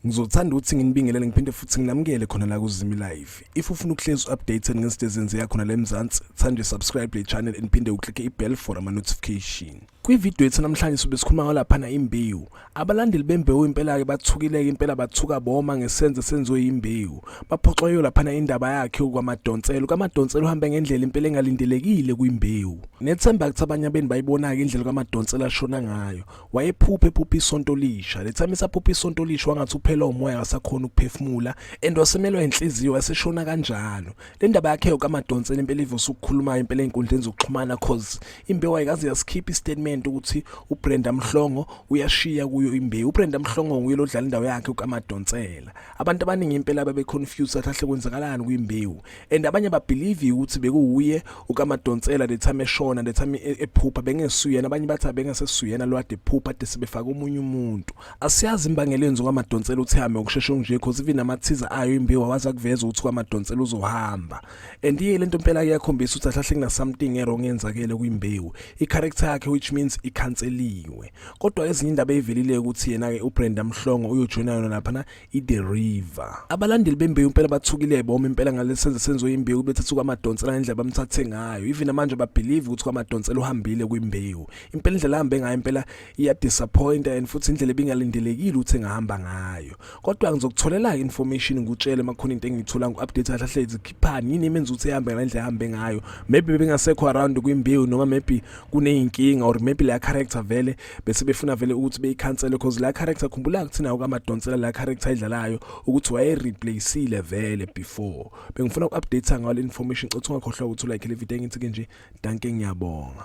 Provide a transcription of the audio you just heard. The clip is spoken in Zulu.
Ngizothanda ukuthi nginibingelele ngiphinde futhi nginamukele khona la kuZimi Live. If ufuna ukuhlezi updated ngezinto ezenziwa khona la eMzansi, thanda subscribe le channel and phinde uklike ibell for ama notification. Kwividiyo yethu namhlanje sobe sikhuluma ngalaphana imbewu. Abalandeli bembewu impela-ke bathukileke impela bathuka boma ngesenzo senziwe yimbewu. Baphoxwa yiyo laphana indaba yakhe ukwamadonselo. Kamadonselo uhambe ngendlela impela engalindelekile kwimbewu. Nethemba kuthi abanye abeni bayibona-ke indlela kamadonselo ashona ngayo. Wayephuphe phuphe isonto lisha. Lethami isaphuphe isonto lisha wangathi uphela umoya akasakhona ukuphefumula and wasemelwa inhliziyo waseshona kanjalo. le ndaba yakhe yokamadonsela impela ivuse ukukhuluma impela ey'nkundleni zokuxhumana cause imbewu ayikaze yasikhipha istatement ukuthi ubrenda mhlongo uyashiya kuyo imbewu ubrenda mhlongo nguye lodlala indawo yakhe ukamadonsela abantu abaningi impela babeconfused athi ahle kwenzakalani kwimbewu and abanye babhilivi ukuthi bekuwuye ukamadonsela the time eshona the time e-, ephupha bengesuyena abanye bathi abengesesuyena lwade phupha ade sebefaka omunye umuntu Asiyazi imbangela yenziwa amadonsela uthame ukushesha nje because even amathiza ayo imbiwa waza kuveza ukuthi kwamadonsela uzohamba and iye lento impela iyakhombisa ukuthi ahlahle kuna something erong yenzakele kwimbewu i character yakhe which means ikhanseliwe kodwa ezinye indaba eyivelile ukuthi yena ke uBrenda Mhlongo uyojoina yona lapha na i-the river abalandeli bembewu impela bathukile boma impela ngalesi senzo senziwe imbewu bethatha kwamadonsela ngendlela bamthathe ngayo even manje babelieve ukuthi kwamadonsela uhambile kwimbewu impela indlela ahambe ngayo impela iyadisappointa and futhi indlela ebingalindelekile ukuthi engahamba ngayo kodwa ngizokutholela information ngikutshele makhona into engiyithola ngu-update kahle hle zikhiphani yini emenza ukuthi ehambe ngale ndlela ehambe ngayo maybe bengasekho around kwimbewu noma maybe kuney'nkinga or maybe leya character vele bese befuna vele ukuthi beyikhansele cause la character khumbula kuthina ukamadonsela la character idlalayo ukuthi waye replaceile vele before bengifuna uku-update ngayo le information cothi ungakhohlwa ukuthi ulike le video engithi ke nje danke ngiyabonga